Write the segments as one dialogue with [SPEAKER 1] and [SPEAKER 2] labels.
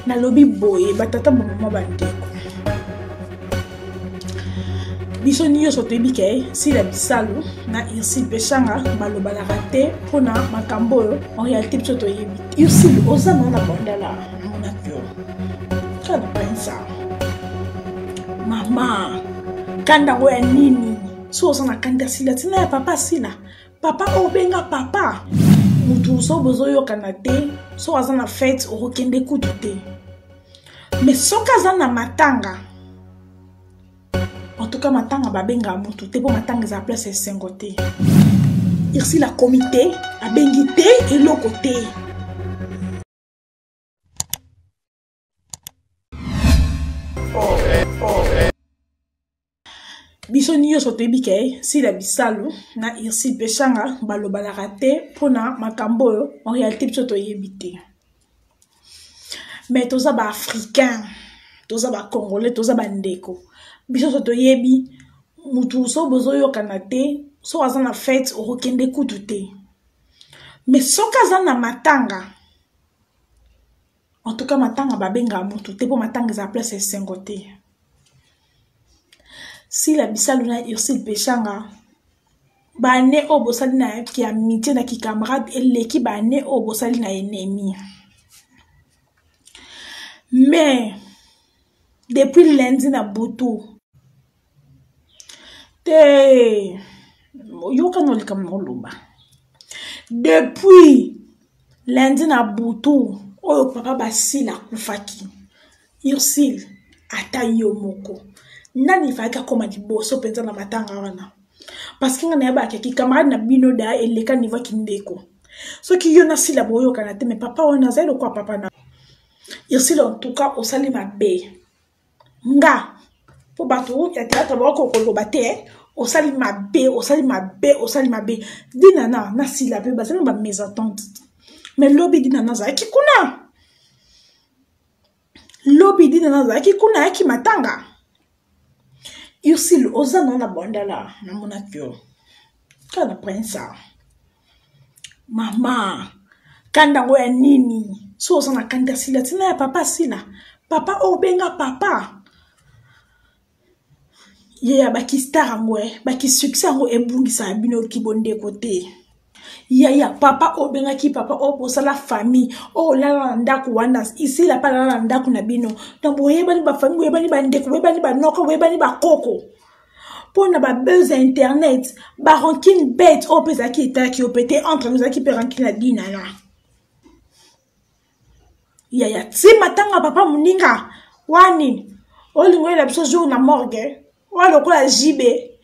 [SPEAKER 1] nalobi boye batata bamama bandeko biso nyonso toyebi ke sila bisalu na ursile peshanga balobanaka te mpo na makambo oyo en réalité biso toyebi te ursile oza na na bandala monaki yo kaka na pensa mama kanda yango ya nini so oza na kanda sila ntina ya papa sila papa oyo obenga papa motu so bozoyokana te so aza na fete okokende kutu te me soki aza na matanga entuka matanga babengaka motu te mpo matanga eza place esengo te irsila akomi te abengi te eloko te biso nyonso toyebi ke sila bisalu na irsil peshanga balobanaka te mpona makambo oyo en réalité biso toyebi te mais toza baafricain toza bacongolais toza bandeko biso nyonso toyebi motu so bozoyokana te so aza na fete okokende kutu te mais soki aza na matanga en tout cas matanga babengaka motu te mpo matanga eza place ya esengo te sila bisalu na ursile peshanga bane oyo bosali na kiamitie na kikamarade eleki bane oyo bosali na enemi mais depuis lundi na butu te yokana likambo na oloba depuis lundi na butu oyo papa basile akufaki ursile ata yo moko nani efalaki akoma liboso mpenza na matanga wana parce que nga nayebaka ki camarade na bino da eleka niveau kindeko soki yo na sila boyokana te me papa wana azali lokola papa na ursile en tout cas osali mabe nga mpo bato ya théâtre baoki okoloba te eh. osali mabe osali mabe osali mabe dinana na sila mpe bazali na bamésentente mais lobi dinana azalaki kuna lobi dinana azalaki kuna ayaki matanga ursile oza nao na bandala namonaki yo kaka na prince mama kanda yango ya nini so oza na kanda sila ntina ya papa sila papa oyo obenga papa ye ya bakistar yango e eh, bakisuccès yango ebungisaka bino kibondeko te yaya papa oyo obengaki papa oyo bosala famille oyo olala na ndako wana isila mpe alala na ndako na bino donc boyebani bafamille boyebani bandeko boyebani banoko boyebani bakoko mpo na babese ya internet barankine bete oyo mpe ezalaki etalaki yo mpe te entre ozalaki mpe rankine ya dinana yaya ti matanga papa moninga wani olingo oyela biso jour na morgue oyo lokola jibe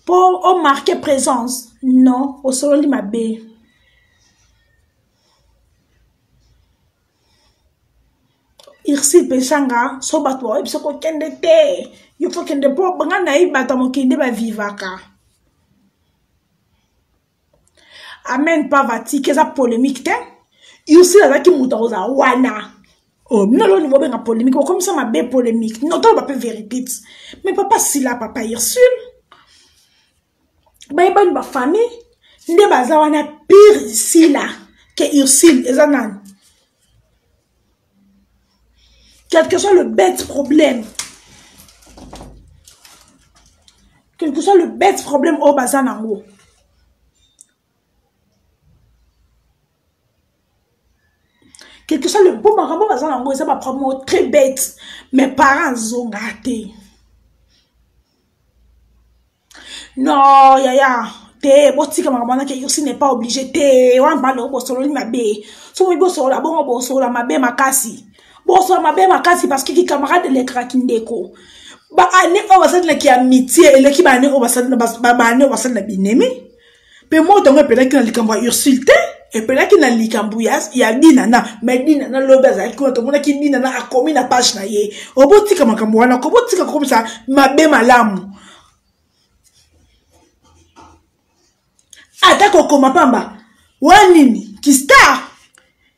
[SPEAKER 1] mpo omarke présence non osololi mabe irsi peshanga so bato baoyebi soko okende te yo fo kende mpo banga nayebi bato ya mokili nde bavivaka amen pavatique eza polémique te ursi azalaki moto akozala wana oyo oh, bino loni bobenga polémique bokomisa mabe polémique notoloba mpe vérité mais papa sila papa ursule bayebani bafamille nde baza wana pire sila ke ursile eza nani quelque soit le bête problème quelque soit le bête problème oyo baza nango quelque soit le mpo makambo baza nango eza baproblème oyo très bête mais parent azonga te non yaya te botika makambo wana ke ursi n'est pas obligé te wana mbanda oyo bosololi mabe so boyebi bosolola bongo bosolola mabe makasi bosolola mabe makasi parce que kikamarade elekaka kindeko baane oyo basali na kiamitie eleki baane oyo basali na binemi mpe moto yango epelaki na likambo ya ursule te epelaki na likambo ya dinana me dinana lobi azalaki kuna tomonaki dinana akomi na page na ye obotika makambo wana ko botika kokomisa mabe malamu ata kokoma pamba wana nini kistar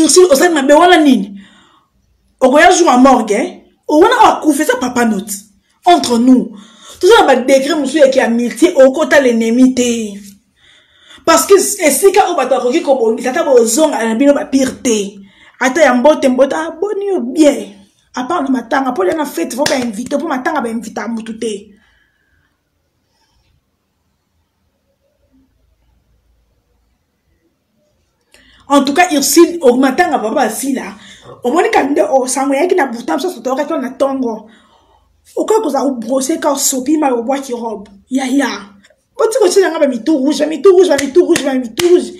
[SPEAKER 1] ursule osali mabe wana nini okoya jour ya morgue eh? wana akufa eza papa note entre nous toza na badegre mosusu yaki ya multie okota lenemi te parce que esika oyo bato bakoki kobongisa ata bozongana na bino bapire te ata ya mbote mbote aboni ah, yo bien apart na matanga mpo lya na fete fo bainvite mpo matanga bainvita motu te en tout cas ursule omatanga papa asila omoni kani nde osango eyaki na buta mosusu toyokaki wana ntongo okoki kozala kobrose ka osopi mai obwaki robe yaya boti kotyela nga bamitu rouge bamitu rouge bamitu rouge bamitu rouge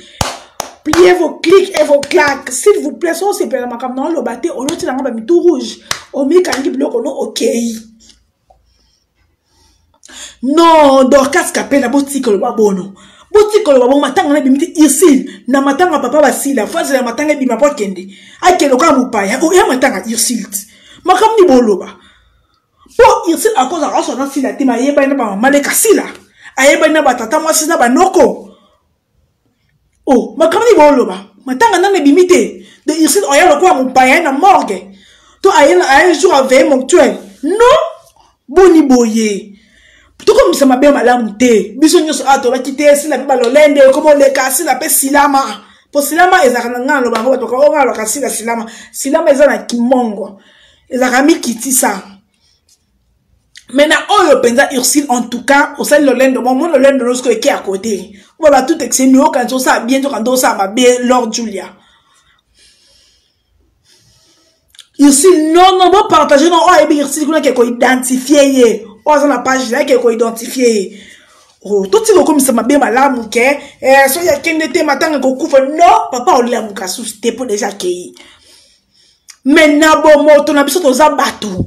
[SPEAKER 1] pliez vos clics et vos claques s'il vous plaît so osepela makambo na oloba te olotyela nga bamitu rouge omikangi biloko no okei okay. non dorcas kapela botika oloba bono botika oloba bongo matanga na ebimi te ursile na matanga papa basila fazela ya matanga ebima po akende akende okaa mopaya oya matanga ursile te makambo nini boloba mpo ursile akozala aswa na sila te mayebani na bamama leka sila ayebani na batata mwasi na banoko o oh, makambo nini booloba matanga nano ebimi te de ursine oya lokola mopaya na morgue to aye jour aveye mortuel non boni boye tokomisa mabe malamu te biso nyonso awa tolaki te sila mpe balolende ekoma oleka sila mpe silama mpo silama ezalaka na ngai naloba yango bato bakoka ngai nalobaka sila silama silama eza na kimongo ezalaka mikitisa mais na oyo mpenza ursile en tout cas osali lolendo mo mo lolendo losko eke ya kote oba batout exemi okanisi osala bien to kanda osala mabe lord julia ursile non non bopartage non oyo ayebi ursile kuna ke koidentifie ye oyo aza na page na ye ke koidentifie ye oh, totika okomisa mabe malamu ke eh, soki akende te matanga ekokufa no papa olia mokasusu te mpo deja akei me na bomoto na biso toza bato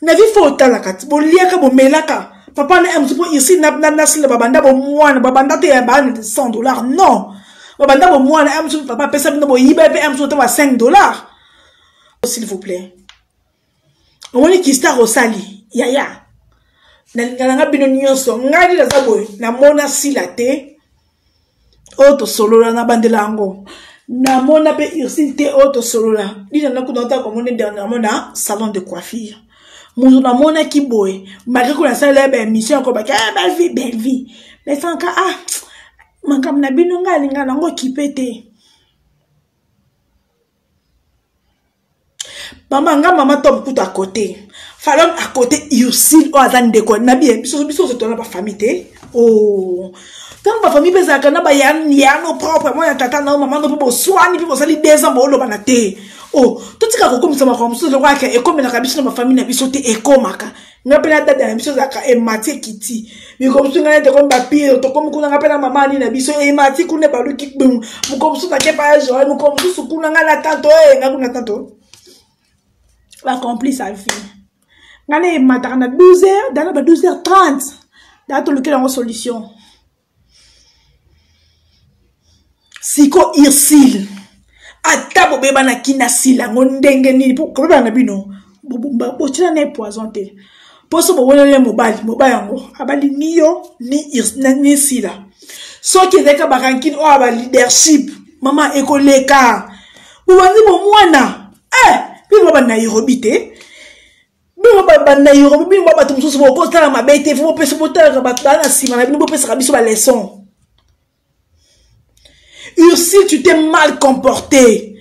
[SPEAKER 1] na vie fo otalaka boliaka bomelaka papa na mtu mpo ici nasila babanda bomwana babanda te ya baana 100 dollar non babanda bomwana mtu papa apesa bino boyiba mpe mtu otama 5 dollar oh, s'il vous plaît omoni kistar osali yaya nalingana nga bino nyonso ngai nde naza boye namona sila te oyo tosolola na bandela yango namona mpe ursile te oyo tosolola lina nakuna otaka komona dernièrement na salon de coiffure moto namonaki boye malgré ko nasalela ye baémission ya kobaki eh, bellevie bellevie mais sanka ah makambo na bino ngai alinga nango kipe te mama nga mama tom kutu akote falon akote ursile oyo aza ndeko na biye biso biso ozo tona bafamille te o oh. ntango bafamille mpe ezalaka na bayano propre mwana tata na yo mama no mpe boswani mpe bosali deux ans boolobana te o oh. totika kokomisa makambo mosusu lokola ke ekomelaka biso na bafamille na biso te ekomaka nga mpe na dada na biso ezalaka emati ekiti mikolo mosusu ngai nete komi bapire tokomi kuna nga mpe na mama ani na biso emati kuna ebaluki kpingu mokolo mosusu nakepa ya joel mokolo mosusu kuna ngai na tanto e eh, ngai kuna tanto bacompli sa vie ngai na emataka na 12 heures dana ba 12 heures 30 daa tolukela yango solution siko ursile ata bobebanaki na sila yango ndenge nini mpo kobebana na bino botyela na ye poison te mpo so boweleli ye mobali mobali yango abali ni yo ni sila soki ezalaki kaka barankine oyo ya baleadership mama ekoleka bobanzi bomwana e eh, bino baba nairobi te bino babanda yorobo bino ba bato mosusu bokotala mabe te fo bopesa botalaka bato baa na nsima na bino bopesaka biso baleson ursil tu te mal comporté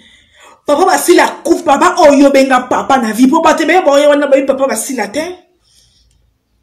[SPEAKER 1] papa basila akufi papa oyo obenga papa na vie mpo bato ebeye baoya wana bayebi papa basila te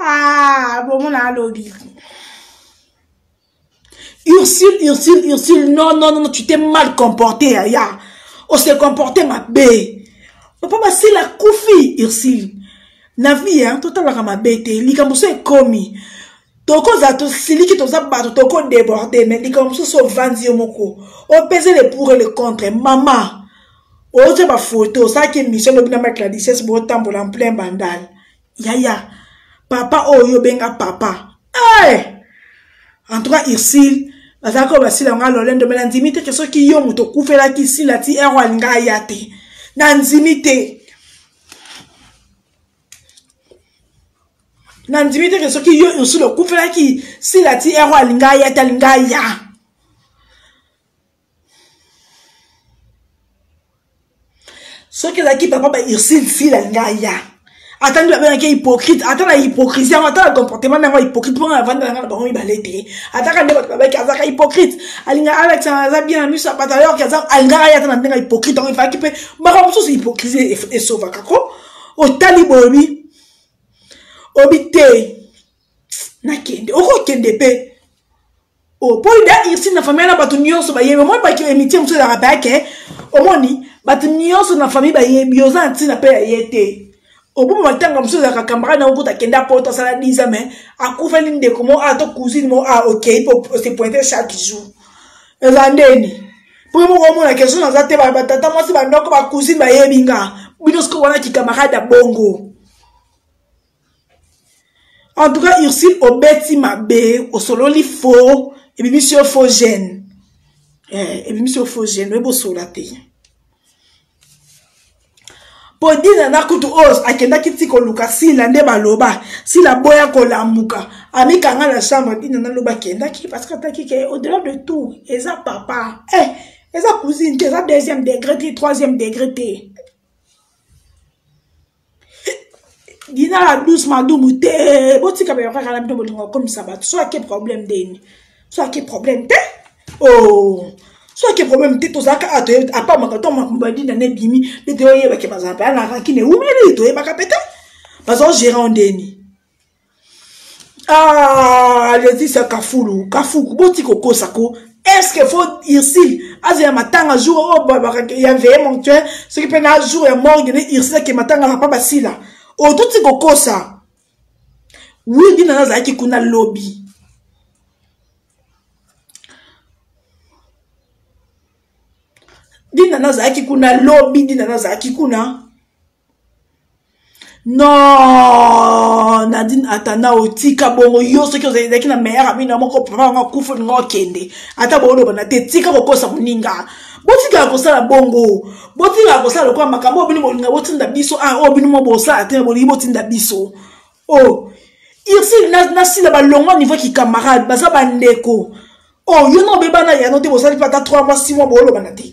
[SPEAKER 1] ah bomona alobi ursule ursule ursule non non non tu t'es mal comporté yaya on se comporte mabe papa basila kufi ursule na vie hein totalaka mabe te likambo so ekomi tokoza tosiliki toza bato toko deborde me likambo mosusu ovandi yo moko opese le pour et le contre mama otya bafoto osalaki émission lobi na mike ladises botambola en plein bandal yaya papa oyo obenga papa hey! Eh! en tout cas ursile bazalaki oyo basila yango alolendo me nandimi te ke soki yo moto okufelaki sila ti ero alinga aya te nandimi te nandimi te ke soki yo ursule okufelaki sila ti ero alinga aya te alinga aya soki ezalaki papa ba ursule sila alinga aya ata nde babengaki hypocrite ata na hypocrisie yango ata na comportement na yango hypocrite mpo na vanda na ngai na bango mibale te ataka nde bato babaki azalaka hypocrite alinga alex aza bien na miso ya bato ayorki alingaka ye ata na ndenge ya hypocrite yango efalaki mpe makambo mosusu hypocrisie esovaka ko otali boye obi obi te nakende okokende mpe oh, mpo ida irsine na famille na bato nyonso bayebi omoni baki emitie mosusu ezalaka bayake omoni bato nyonso na famille bayebi oza na ntina mpe ya ye te oboma matanga mosusu ezalaka camarade na okuta akende apoto asala diza mai akufeli ndeko mo a ah, to cousine mo a ah, okei mpo ose pointe chaque jour eza ndeni mpo moko omona ke soki naza te batata mwasi bandoko bacousine bayebi nga bino sikoyo wana kikamarade ya bongo en tout cas ursule obeti mabe osololi faux ebimisi yo faux gene eh, ebimisi yo faux gene oyebi osola te mpo dina na kutu oyo akendaki ti koluka sila nde baloba sila boya kolamuka amikanga na chambre dina naloba akendaki parce que ataki ke au-delà de tout eza papa eh, eza cousine te eza deuxième degré te troisième degré te gina la douce madumu te botika bayo kaka na bino bolingo okomisa bato so ake problème ndeni so ake problème te o oh. so ake problème te tozalaka a toyebi apamaka to makambo ya dina na ebimi nde toyebake bazala mpaya na rankine ewumeli toyebaka mpe te bazala gérant ndeni ah, leticia kafulu kafuku boti kokosa ko est-ce que faut ursile aza ya matanga jour oyo oh, ya veye monctuel soki mpe na jour ya morgue ne ursile ake matanga papa basila oyo oh, toti kokosa widi nana azalaki kuna lobi dinana azalaki kuna lobi dinana azalaki kuna non nadine atana otika bongo yo soki ozalaki na meilleur ami na moko papa yango akufa olinga okende ata booloba na te tika kokosa moninga botikala kosala bongo botikala kosala lokola makambo oyo bino bolinga botinda biso a ah, oyo bino mo bosala te bolingi botinda biso o oh, irsile na sila balongwa niveau kikamarade baza bandeko o oh, yo na obebana yano te bosali mpe ata 3 mois 6 mois boolobana te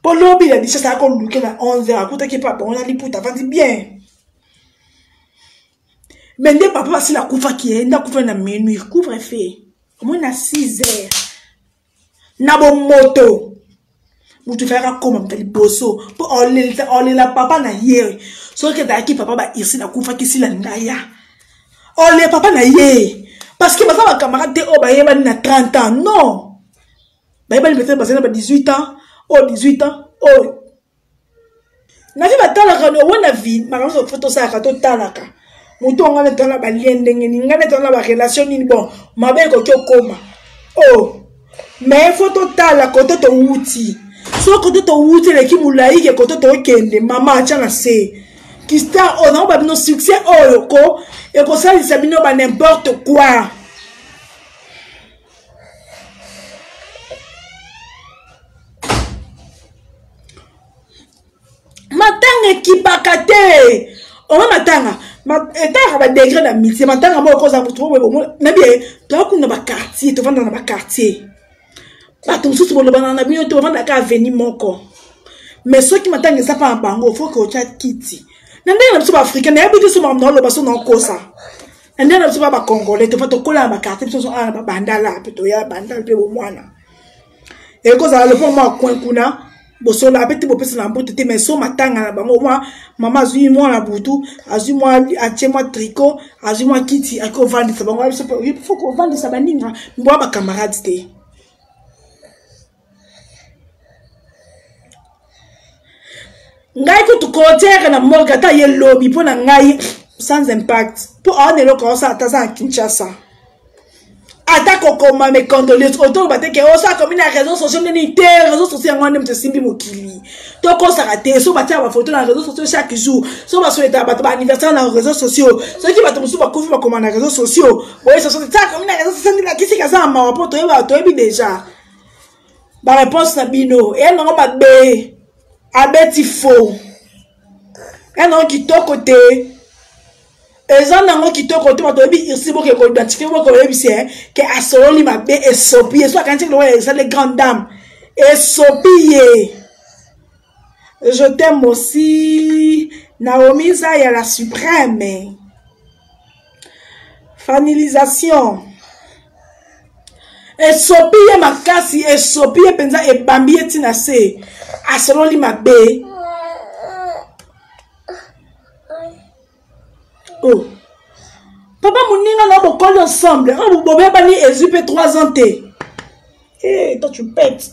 [SPEAKER 1] mpo lobi ya lisasa ya koluke na 11 akutaki papa wana liputa avandi bien me nde papa basila akufaki ye nde akufaki na minuit couvre fe omoi na 6 heures na bomoto moto efalaki akoma moto liboso mpo olela papa na ye soki ezalaki papa bairsile akufaki sila ndaya olela papa na ye parce que baza bakamarade te oyo bayebani na 30 ans non bayebani peut-être bazali na ba 18 ans oyo 18 ans oyo navi batalaka no wana vi makambo nyonso fo tosalaka totalaka moto yango nde tona balie ndenge nini ngai nde tona barelation nini bon mabe ekoki okoma o oh, mais fo totala kote towuti so kote towuti eleki molai ke kote tokende mama atya na se kistar oyo oh, nango babino succès oyo oh, ko ekosalisa bino ba n'importe quoi matanga ekipaka te oma matanga etaka badegre na mitie matanga moko oza motu obomo nabi tokuna baquartier tovanda na baquartier bato mosusu bolobana na bino te bovanda ka aveni moko mais soki matanga eza mpa na bango foke otya kiti na ndenge na biso baafricain nayebi te so makambo naoloba so naokosa nde na biso ba bacongolais tofa tokola na bakartier biso nyonso awa na babandala mpe toya bandala mpe bomwana ekozala lopango mwa coin kuna bosola mpe te bopesa na mbote te mai so matanga na bango mwa mama azwi mwa na butu azwi mwa atie mwa tricot azwi mwa kiti akoki kovandisa bango fo kovandisa baninga mboya bacamarade te ngai kutu concert na morgue ata ye lobi mpo na ngai sans impact mpo awa na eloko aosala ata aza na kinshasa ata kokoma mes condoleance otoloba te ke oso akomi na réseau sociaux nini te réseau sociaux yango wana nde moto esimbi mokili tokosaka te so batiaka bafoto na réseau sociaux chaque jour so basoletaka bato baanniversaire na réseau sociaux soki bato mosusu bakufi bakoma na réseau sociaux boye soso te akomi na réseau sociaux nde lakisika aza na mawa mpo toyebi déjà ba réponse na bino eya nango mabe abeti faux eya nango kitoko te eza nango kitoko te bato oyebi irsi boke koidentifie boke oyebisi eh, ke asololi mabe esopi ye so akanisi lokola ezali grande dame esopi ye Je t'aime aussi. Naomi Zaya, la suprême. Fanilisation. esopi ye makasi esopi ye mpenza ebambi ye ntina se asololi mabe oh. papa moninga na bokoli ensemble oyo oh, bobebani ezwi mpe 3 ans te hey, eh, toi tu pete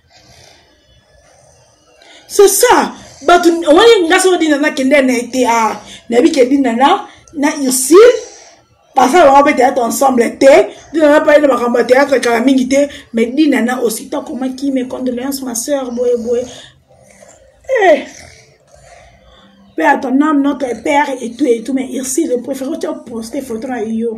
[SPEAKER 1] c'est ça bato omoni nga soko dina nakende na ete a nayebi ke dina na na ursile basala bango mpe théâtre ensemble te dina na pale na makambo ya théâtre kala mingi te mais dina na aussi to akomaki mes condoléances ma sœur boye boye eh. Père, ton âme, notre Père et tout et tout, mais Ursule, je préfère que tu aies posté photo à Io.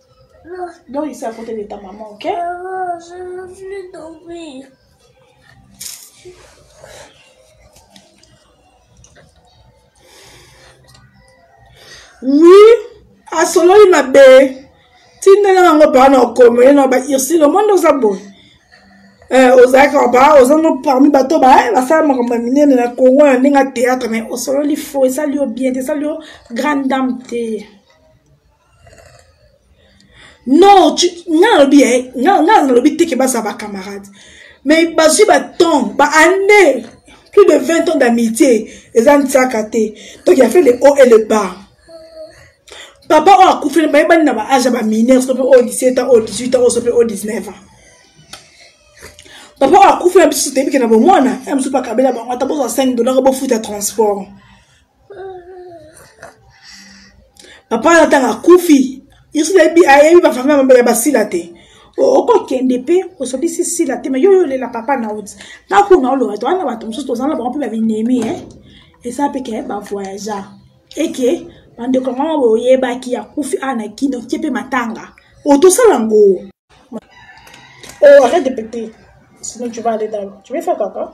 [SPEAKER 1] Donc, il s'est à côté de ta maman, ok Maman, je veux
[SPEAKER 2] plus dormir.
[SPEAKER 1] Oui, asololi mabe tindela yango baa na okomo ye na ba ursile omoni oza boye eh, ozalaki ba oza no parmi bato ba eh, basala makambo ya minene na congo ya ndenge ya théâtre mais osololi fo esali yo bien te esali yo grande dame te non nga nalobi eh, nga nalobi te ke baza bacamarade mais bazwi batemp baannée plus de 20 ans d'amitié eza ntiaka te donc ya fait le haut et le bas papa oyo akufeli bayebani na baage ya bamineur sope oyo 17 ans oyo 18 ans oyo sope oyo 19 ans papa oyo akufeli na biso toyebi ke na bomwana ya mosusu bakabela bango ata bozwa 5 dollar bofuta transport papa wana ntango akufi yesu nayebi ayebi bafamia mabe ya basila te okokende mpe osolisi sila te me yo yo olela papa na oti ntango kuna oloba to wana bato mosusu tozala na bango mpe babinemi e eza mpe ke bavoyageur eke bandeko yango yango boyebaki akufi awa na kino tie mpe matanga oyo tosala yango oh, arrête de péter sinon tu vas aller dans tu vais faire caca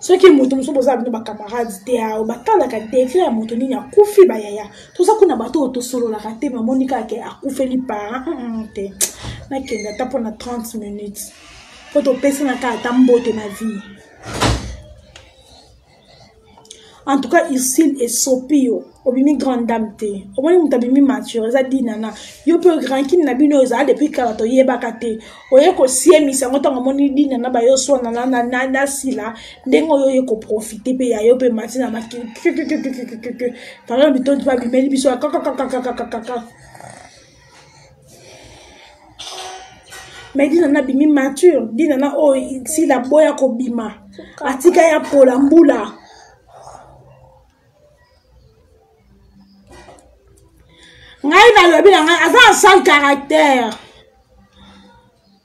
[SPEAKER 1] soki moto mosusu bozala bino bacamarade te ao batalaka degre ya moto nini akufi bayaya toza kuna bato oyo tosololaka te mamoni kaka ke akufeli parent mm, mm, te nakende ata mpona 30 minutes mpo topesana kaka ata mbote na vie en tout cas ursile esopi yo obimi grande dame te omoni moto abimi mature eza dinana yo mpe rankine na bino ezala depuis kala toyebaka te oye kosiemisa yango ntango omoni dinana bayo oswana na sila ndenge oyo oye koprofite mpe ya yo mpe mati na makili pardon bitondi babimeli biso kakakakakakakaka me dina na bimi mature dina na oyo oh, sila boya kobima atika ya pola mbula ngai nalobi na ngai aza na sale caractère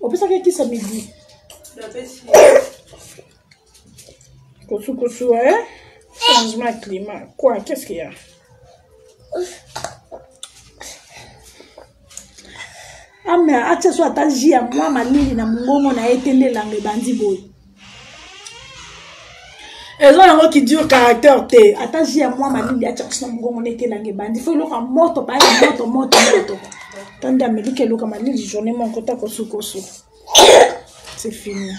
[SPEAKER 1] opesaki ekisi ya midi kosukosuwa e eh? changement ya climat quoi qu'est ce qu'il y a ame atia so ata ji ya mwa malili na mongongo na ye te nde elanga ebandi boye eza yango qui dure caractère te ata ji ya mwa malili atya kusi na mongongo nete elanga ebandi fo eloka moto paya moto moto moto tandi ameliki eloka malili journée moko ta kosuka osuka c'est fini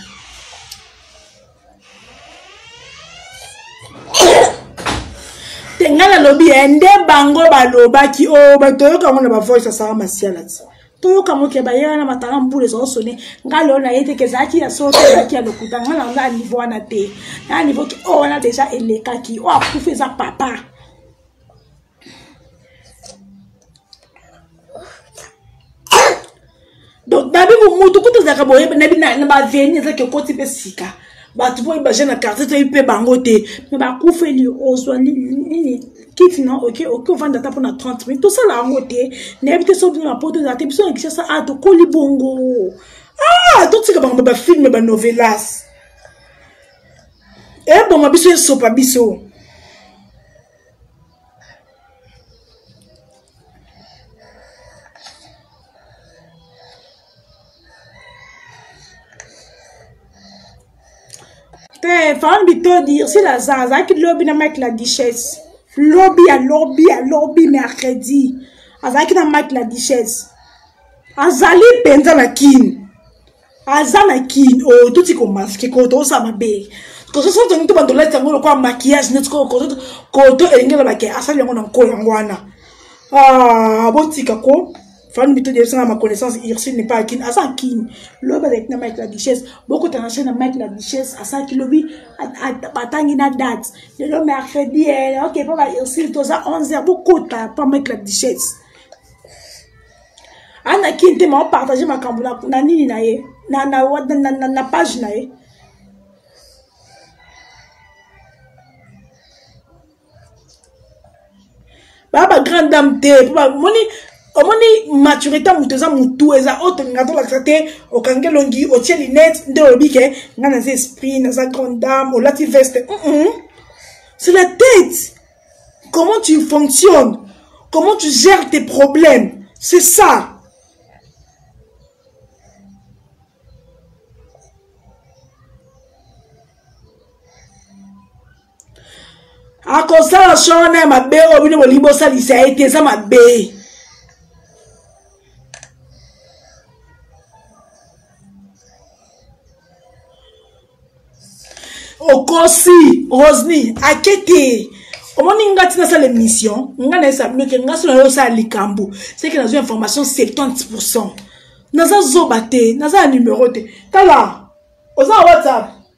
[SPEAKER 1] te ngai nalobi ye nde bango balobaki o oh, bato oyoka yango na bavoice asala masiala ti toyoka moto ya baye wana matanga mbula ezao sone ngai lelo naye te kezalaki ya solo te ezalaki ya lokuta ngai na ngai niveau wana te na niveau ki oyo oh, wana deja elekaki oyo oh, akufi eza papa donc nabi motu kutu ezalaka boye na baveni ezalaki okoti mpe sika bato mpo baje na quartier toyebi mpe bango te me bakufeli ozwa nini kiti na oke oke ovanda ata mpo na 30 minute tosala yango te nayebi te soki na poto eza te biso na kishasa a ah, tokoli bongo ah totika bango bafilme banovelas eboma eh, biso esopa biso te femme bitodi ursule aza azalaki lobi na mike la duchesse lobi ya lobi ya lobi mercredi azalaki na mike la duchesse azali mpenza na kini aza na kini oyo oh, toti komaske koto oza mabe koto soki tongi to bandolati yango lokola makiyage neti koto koto elenge lobake asali yango na nko yango wana ah, botika ko fanu bito debisanga ma connaissance ursule n'est pas à kin aza kin lobi azalaki na mike la duchesse bokotana se na mike la duchesse asalaki lobi batangi na date lelo mercredi eh, ok mpo ba ursule toza 11 heure bokota mpo mike la duchesse ana kin te ma opartage makambo na nini na ye na, na, na, na, na page na ye baa ba grande dame te mpo bamoni omoni maturité ya moto eza motu eza oyo tolinga tolakisa te okangi elongi otie linete nde olobi ke nga naza esprit naza grande dame olati veste mm -mm. c'est la tête comment tu fonctionnes comment tu gères tes problèmes c'est ça akosala swa wana ya mabe oyo bino bolingi bosalisa ye te eza mabe okosi rosny ake te omoni nga ti nasala émission nga nayesa bino ke nga so nayo osala likambo seke nazwi information 70 pourcent naza zoba te naza na numero te tala oza na whatsapp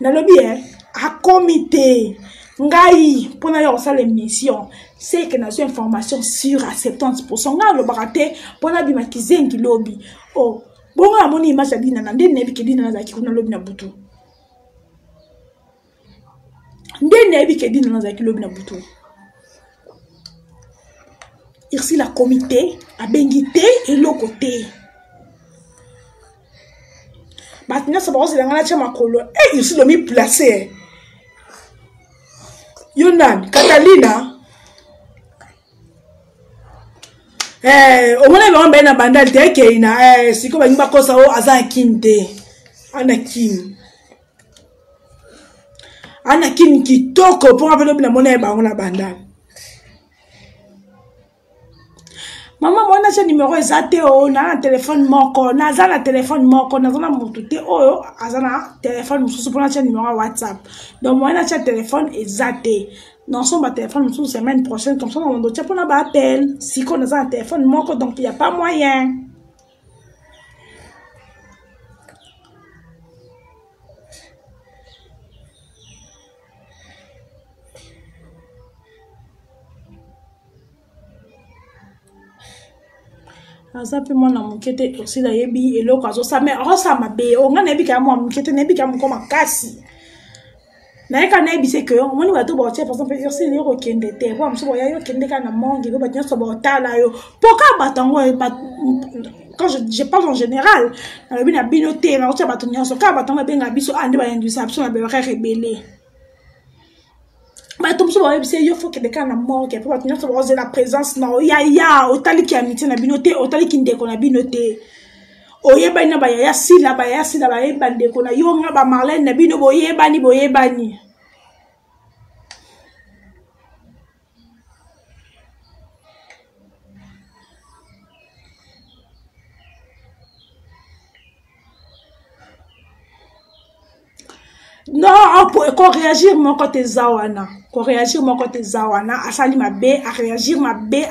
[SPEAKER 1] nalobi e akomi te ngai mpo na ya kosala émission seke nazwi information sur a 70 pourcent ngai alobaka te mpo nabima kizengi lobi o oh, bongo namoni image ya dinana nde nayebi ke dinana azalaki kuna lobi na butu nde nayebi ke dina nazalaki lobi na butu ursile akomi te abengi te eloko te bato nyonso bakozela ngai natya makolo e eh, ursile omi place eh. yo nani katalina eh, omonaki bango mbaye na bandali te ekei na sikoyo balingi bakosa o oh, aza na kini te ana kini ana kini kitoko mpo nga mpe lobi namona ye bango na bandal mama mwana tya nimero eza te o na na telefone moko naza na telefone moko naza na motu te oyo aza na telefone mosusu mpo natya nimero ya whatsapp donc moyen natya telefone eza te naosomba ba telefone mosusu semaine prochaine comme ça na mondo tya mpona baappel sikoyo naza na telefone moko donc ya pas moyen aza mpe mwana moke te osi nayebi eloko azosala me akosa mabe onga nayebi kaya mwa moke te nayebi kaya moko makasi naye ka nayebise ke omoni bato baotia par exemple ursine yo kokende te po mosusu boya yo kende kaka na mongi po bato nyonso baotala yo po kaka bato yango eh, quand je, je parle en général nalobi na bino te bakotia bato nyonso kaka bato yango babenga biso a ah, nde bainduisa biso na behoraire ebele bato mosusu bayebisi ye yo fo kende kaka na morgue mpo bato nyonso bakozela présence na yo yaya otaliki amitié na bino te otaliki ndeko na bino te oyebani na bayaya sila bayaya sila bayebi bandeko na yo nga bamarlene na bino boyebani boyebani no koreagir moko te eza wana koreagir moko te eza wana asali mabe areagir mabe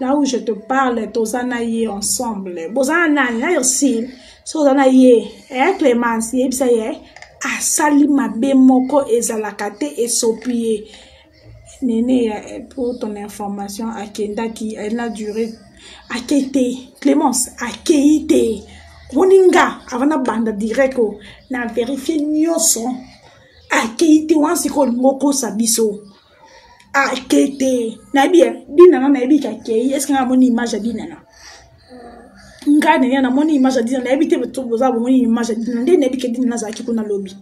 [SPEAKER 1] là où je te parle toza na ye ensemble boza na nani na ursile so oza na ye eh, clémence yebisa ye asali mabe moko ezalaka te esopi ye nene eh, pour ton information akendaki elle na duré akei te clémence akei te omoni nga avant nabanda direct o na verifie nyonso akei te wana sikoyo olingi okosa biso akete nayebi ya dinana nayebi kakei eske nga amoni image ya dinana ngai nene namoni image ya dinana nayebi te boza bomoni image ya dinana nde nayebi ke dinana azalaki kuna lobi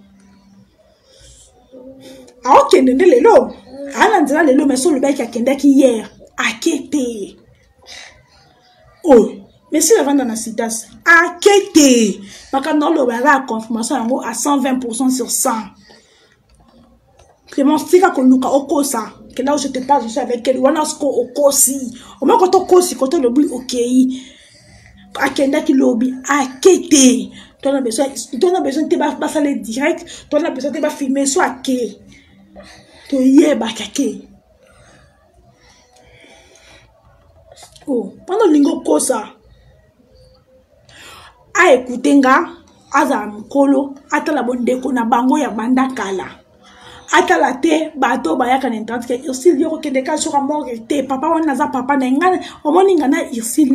[SPEAKER 1] aokende nde lelo aa na nzela lelo mais so olobaki akendaki hier akete oyo oh. mesi avanda na sitas ake te makambo oloba eza ya confirmation yango a 120 pourcent sur 100 Clémence tika koluka okosa que là où je te parle je suis avec elle wana siko okosi omoi koto okosi koto olobi okei akendaki lobi ake te to na besoin to na besoin te basala direct to na besoin te bafilme so ake toyebaki ake oh, mpona olingi okosa aekute nga azala mokolo atala bondeko na bango ya banda kala atala te bato bayaka na internet ke ursile yo kokende kaka soka morgue te papa wana naza papa na nga omoni nga na ursile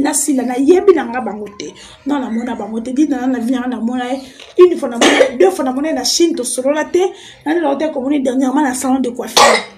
[SPEAKER 1] nasila nayebi na nga bango te no namona bango te dinana na vi nanga namona ye une fois namona deux fois namona ye na chine tosolola te naneloko te komoni dernièrement na salon de coiffure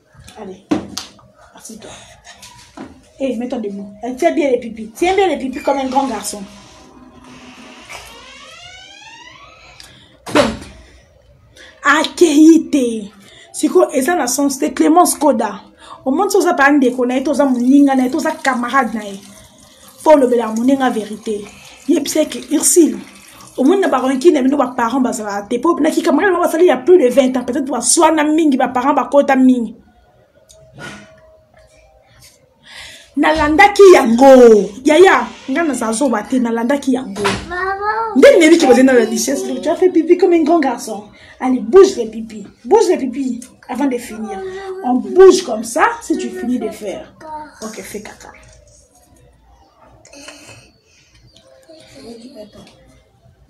[SPEAKER 1] Allez, assis-toi. Hé, hey, mets-toi debout. Elle tient bien les pipis. Tiens bien les pipis comme un grand garçon. Donc, accueilli te. sikoyo eza na sens te clémence koda omonisi oza baa ndeko na ye to oza moninga na ye to oza camarade na ye mpo olobela moninga verité yebisa eke ursile omoni na baranki na bino baparent bazalaka te mpo na kikamaka yango basali ya plus de 20 ans peut-être baswana mingi baparent bakota mingi nalandaki yango yaya ngai naza zoba te nalandaki yango nde nebi ke bazali na la richesse tu as fait pipi comme un grand garçon allez bouge le pipi bouge le pipi avant de finir on bouge comme ça si tu finis de faire ok fais caca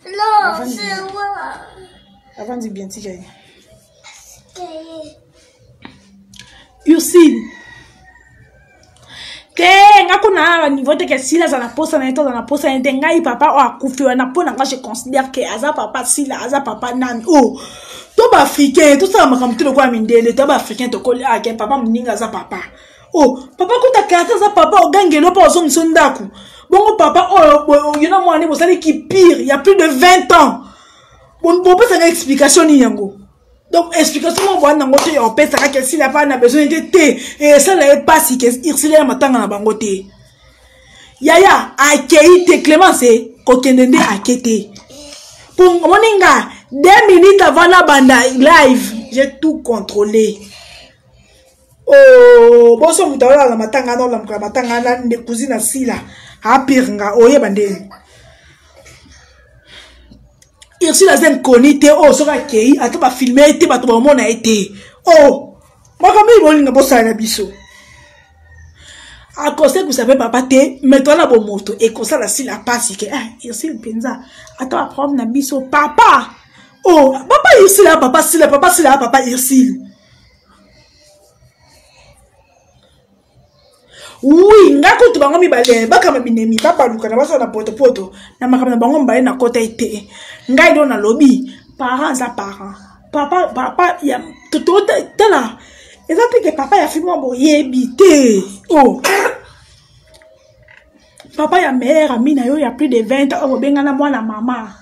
[SPEAKER 1] Non, c'est moi. Avant de bien tirer. Yusine. te nga ko na niveau te ke sila aza na posa na ye to aza na posa na ye te ngai papa oyo akufi wana mpo na nga je considère ke aza papa sila aza papa nani o oh. to baafricain tosala makambo te lokola mindele to baafricain tokoli ake ah, papa moninga aza papa oh papa kota karte aza papa ogangelo mpo ozo moso ndako bongo papa oyo oh, yo na mwana ne bosali kipire ya plus de 20 ans bopesaka explication nini yango donc explication moko boyani yango te opesaka ke esila epai na besoin te te esala ye mpasi ke irsila ya matanga na bango te yaya akei te clemence kokende nde ake te mpo omoni nga deux minutes avant nabanda live j'ai tout contrôlé Oh, boso moto aoyo ala matanga na olamuka matanga na nde cousine asila apire nga oyeba nde ursule aza nkoni te oyo oh, soki akei ata bafilme ye te bato baomona ye te o oh, makambo oyo bolinga bosala na biso akosekwisa mpe papa te me toala bomoto ekosala sila mpasi ke eh, ursule mpenza ata baproblème na biso papa o oh, papa ursule ya papa sila papa sila ya papa ursule wi ngai kutu bango mibale bakama binemi babalukana basala na potopoto na makambo na bango mibale na kota ete ngai do nalobi parent aza parent papa papa ya tala eza te ke papa ya fimwa boyebi te o oh. papa ya meilleur ami na yo ya plus de 20 ans obengana mwana mama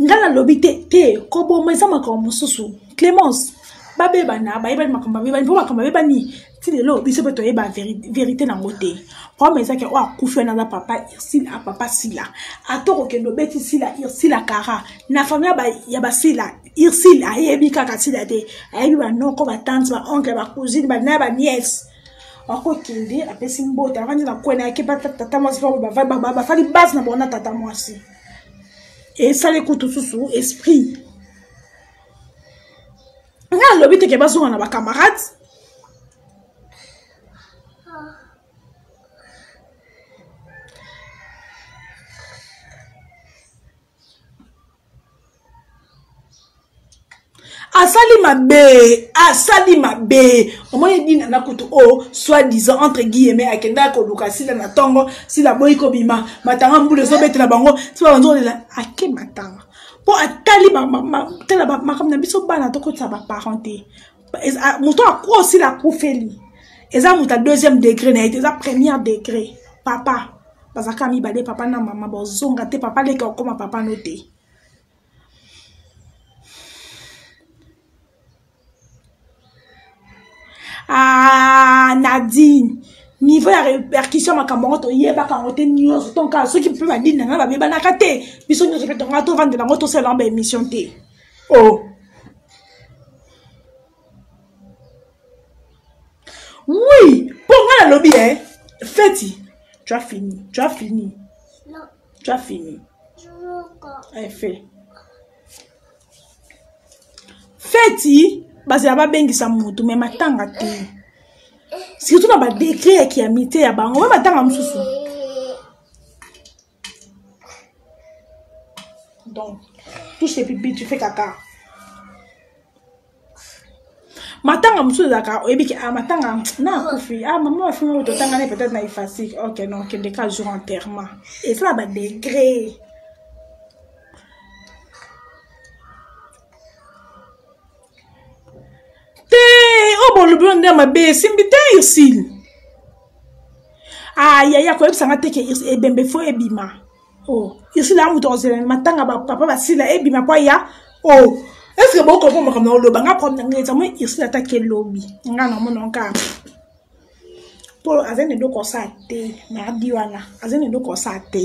[SPEAKER 1] ngai nalobi te te koboma eza makambo mosusu clémence babebana bayebani makambo babebani mpo makambo babebani ti lelo biso mpe toyeba verité nango te problème ezaki oyo akufi wana aza papa irsila ah, papa sila ata okokende obeti sila irsila kara na fami ya basila irsile ayebi kaka sila te ayebi banoko batanti baoncle bacousine banaya baniese akokende apesi mbote avandi na kwena yake batata mwasi bafali base na bango na tata mwasi esali kutu susu esprit ngai alobi teke bazonga na bacamarade asali mabe asali mabe omoni dina na kutu oyo soit disant entre guillemets akendaki koluka sila na ntongo sila boyi kobima matanga mbula ezobetela bango sila banzolela ake matanga mpo atali tala makambo na biso bana tokotisa baparent te moto akuo sila akufeli eza moto ya deuxième degré na ye te eza première degré papa bazalaka mibale papa na mama bozonga te papa leka okoma papa no te ah, nadine niveau ya répercussion makambo yango toyebaka yango te nyonso tonka soki mpe badini na ngai babebanaka te biso nyonso mpe tonga tovandela yango tosalela yango baémission te o oh. oui mpo nga nalobi e feti tu as fini tu as fini
[SPEAKER 2] tu as fini efe
[SPEAKER 1] eh, feti bazala babengisa motu me matanga te surtout na badegre ya kiamite ya bango me matanga mosusu Donc, tout ce pipi, tu fais caca. matanga mosusu ezalaka oyebi ke ah, matanga na akufi ah, mama afimi oyo totanga ne peut-être na efasik ok non okende ka jour enterrement esala badegre te oyo bolobi oyo nde mabe esimbi te ursile ah yaya koyebisa nga te ke ebembe fo ebima o oh, ursile amutu akozelana matanga bapapa basila ebima mpo aya o oh, estce bokombo makambo na oloba nga problème na ngai eza moi ursile atake lobi nga namona nkaa mpo azali na eloko osala te na abi wana azali na eloko osala te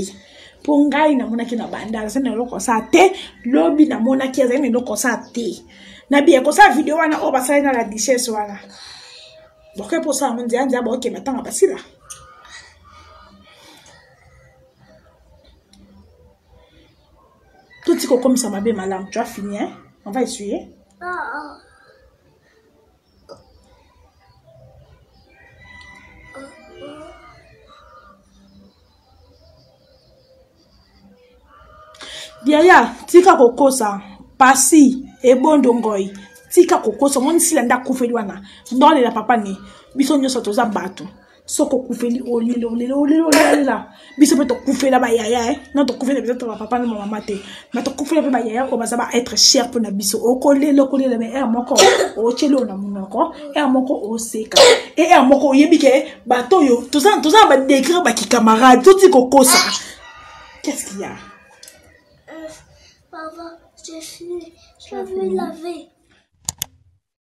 [SPEAKER 1] mpo ngai namonaki na banda azali na eloko osala te lobi namonaki azali na eloko osala te na biye kosala video wana oyo basali na la duchesse wana boke mpo osala ngo nzela nzela baokende atanga basila totika okomisa mabe malamu tu afini on va essuyer ah, ah. yaya tika kokosa pasi ebondo ngoi tika kokosa omoni sila nde akufeli wana ndolela papa ne biso nyonso toza bato soki okufeli olela olela olela olela biso mpe tokufela bayaya e eh? na tokufela biso toba papa na mamama te ma tokufela mpe bayaya oyo baza ba être cher mpo na biso okolela okolela me ere moko otyeli oyo na monoko ere moko oseka e ere moko oyebi ke bato oyo toza na badegre bakikamarade toti kokosa qu'est-ce qu'il y a euh, Papa, je suis, je
[SPEAKER 2] vais laver.